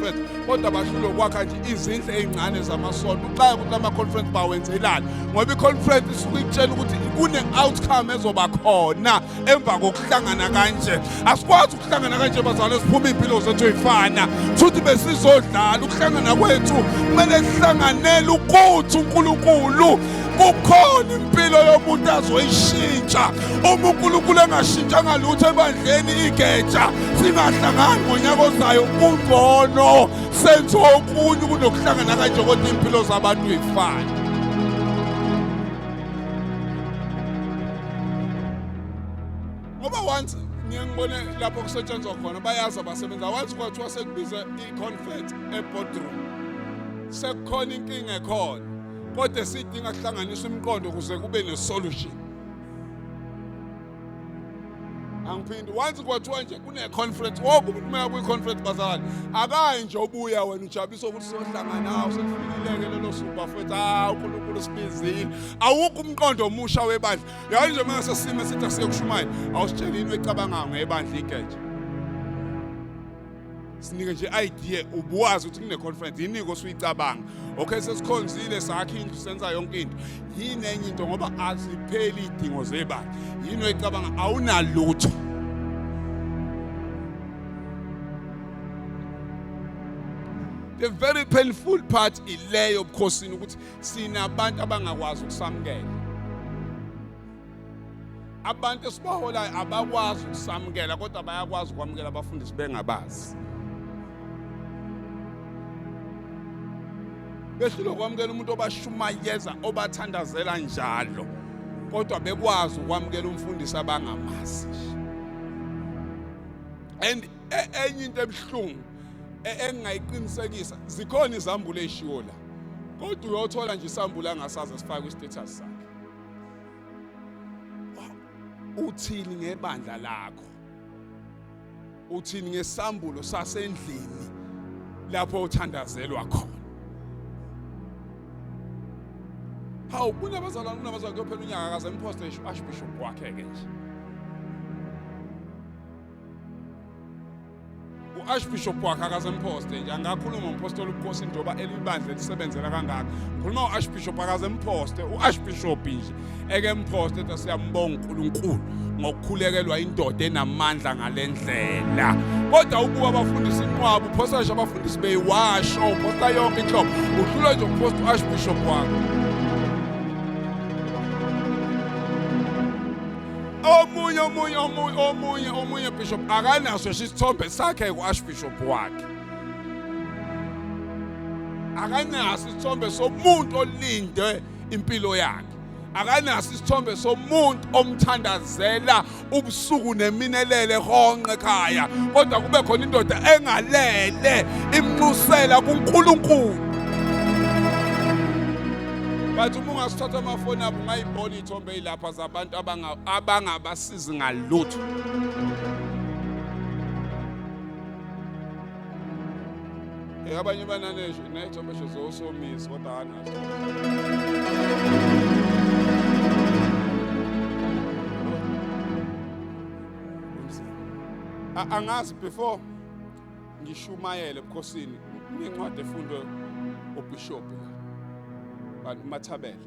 conference kodwa bahlule ukwakha nje izindlu ezincane zamasonto uxaya ukuthi lama conference bawenzelani ngoba iconference isuke ikutshela ukuthi kune outcome ezoba khona emva kokuhlangana kanje asikwazi ukuhlangana kanje bazalwane siphuma impilo zethu ifana futhi besizodlala ukuhlangana kwethu kumele sihlanganele ukuthi uNkulunkulu kukhona impilo yomuntu azoyishintsha uma unkulunkulu engashintshanga lutho ebandleni igeja singahlangani ngonyaka ozayo kungcono senze okunye kunokuhlangana kanje kodwa iy'mpilo zabantu yifane ngoba once ngiye ngibone lapho kusetshenzwa khona bayazi abasebenzi awazi kwathiwa sekubize i-confet ebodroom sekukhona inkinga ekhona kodwa esidinga kuhlanganisa umqondo kuze kube nesolution angiphindi once kwathiwa nje kune-conference woke umuntu uma yakwi-conference bazalwane akayi nje obuya wena ujabulisa ukuthi sohlangana hawu selifikileke lelo suku bafethu hawu unkulunkulu sibizile awukho umqondo omusha webandla yayo nje uma sesime sithi asiyekushumayela awusitshelini wecabangayo ngebandla igeje sinike nje idea ubuwazi ukuthi kune conference yini kosuyicabanga okay sesikhonzile sakhe indlu senza yonke into yini enye into ngoba azipheli idingo zebani yini oyicabanga awunalutho the very painful part ileyo bukhosini ukuthi sinabantu abangakwazi ukusamukela abantu esibaholayo abakwazi ukusamukela kodwa bayakwazi ukwamukela abafundisi bengabazi behlulwe ukwamukela umuntu obashumayeza obathandazela njalo kodwa bekwazi ukwamukela umfundisi abangamazi and e, enye into ebuhlungu e, engingayiqinisekisa zikhona izambulo ezishiwo la kodwa uyothola nje isambula ngasaze sifake istatus sakhe uthini ngebandla lakho uthini ngesambulo sasendlini lapho uthandazelwa khona hawu kunabazalwane kunabazalwane kuyophela unyaka akaze ngiphoste ashbishop wakhe-ke nje u-archbishop wakhe akazemphoste nje angakhuluma umphostoli ubukhosi njengoba elibandla elisebenzela kangaka ngikhuluma u-archbishop akazemphoste u-archbishop nje eke mphoste ethi siyambonga unkulunkulu ngokukhulekelwa indoda enamandla ngale ndlela kodwa ukuba abafundisi inqwaba uphostasha abafundisi beyiwasho uphosta yonke inhlobo uhlulwe nje ukuphosta u-archbishop wakho omunye omunye omunye omunye omunye bishop akanaso isithombe sakhe ku-archbishop wakhe akanaso isithombe somuntu olinde impilo yakhe akanaso isithombe somuntu omthandazela ubusuku neminelele honqe ekhaya kodwa kube khona indoda engalele imnxusela kuNkulunkulu bathi uma ungasithatha amafoni abo ungayibona Thombe ilapha zabantu abanga abangabasizi ngalutho. Eh abanye banane nje ne thombe sho zosomisa kodwa hana. Angazi before ngishumayele ebukhosini incwadi efundwe ubishop la. Bantu mathabela.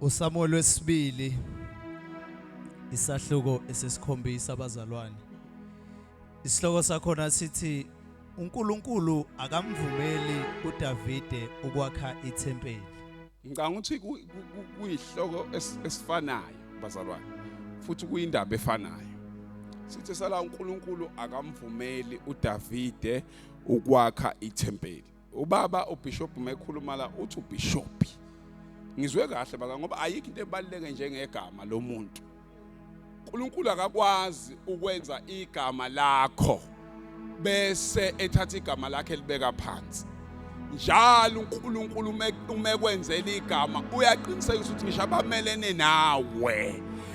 uSamuel wesibili isahluko esesikhombisa abazalwane isihloko sakhona sithi uNkulunkulu akamvumeli uDavide ukwakha ithempeli ngicanga ukuthi kuyihloko esifanayo bazalwane futhi kuyindaba efanayo sithi sala uNkulunkulu akamvumeli uDavide ukwakha ithempeli ubaba ubishop mekhuluma la uthi ubishop ngizwe kahle baka ngoba ayikho into ebaluleke njengegama lomuntu uNkulunkulu akakwazi ukwenza igama lakho bese ethatha igama lakhe libeka phansi njalo uNkulunkulu uma ekwenzela igama uyaqiniseka ukuthi ngisho abamelene nawe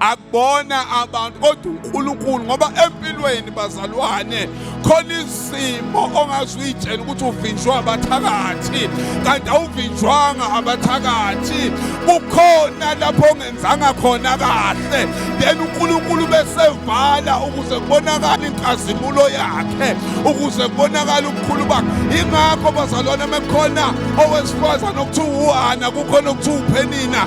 akubona abantu kodwa uNkulunkulu ngoba empilweni bazalwane khona izimo ongazi uyitshela ukuthi uvinjwa abathakathi kanti awuvinjwanga abathakathi kukhona lapho ongenzanga khona kahle then uNkulunkulu besevala ukuze kubonakale inkazimulo yakhe ukuze kubonakale ubukhulu bakhe ingakho bazalwane mekhona owesifazane okuthiwa uHana kukhona okuthiwa uPhenina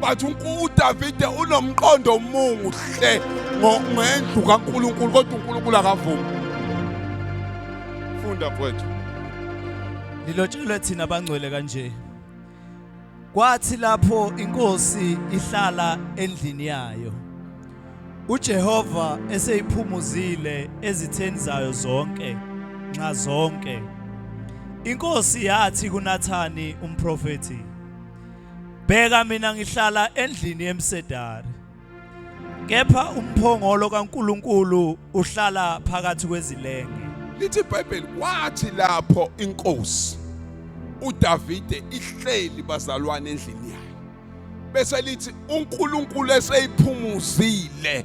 but uDavide unomqondo omuhle ngendlu kaNkulunkulu kodwa uNkulunkulu akavumi funda mfowethu lilotshelwe thina abangcwele kanje kwathi lapho inkosi ihlala endlini yayo uJehova eseyiphumuzile ezitheni zayo zonke nxa zonke inkosi yathi kuNathani umprofeti Bheka mina ngihlala endlini yemsedari. Kepha umphongolo kaNkuluNkulu uhlala phakathi kwezilenge. Lithi iBhayibheli kwathi lapho inkosi uDavide ihleli bazalwane endlini yayo. Bese lithi uNkulunkulu eseyiphumuzile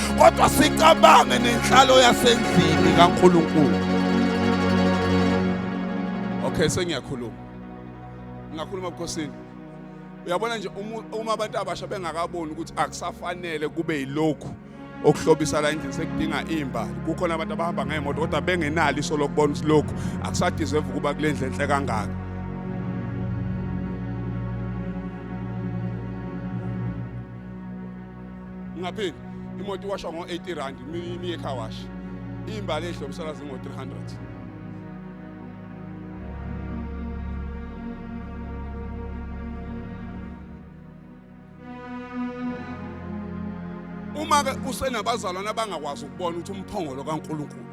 kodwa sicabange nenhlalo yasendlini kaNkulunkulu okay sengiyakhuluma ngingakhuluma ebukhosini uyabona nje uma abantu abasha bengakaboni ukuthi akusafanele kube yilokhu okuhlobisa la endlini sekudinga imbali kukhona abantu abahamba ngemoto kodwa bengenalo iso lokubona ukuthi lokhu akusadizeva ukuba kule ndlu enhle kangaka Ngapheli imoto iwashwa ngo-80 rand imiye car wash. Imbali edle umsakazi ngo-300. Uma-ke usenabazalwane abangakwazi ukubona ukuthi umphongolo kaNkulunkulu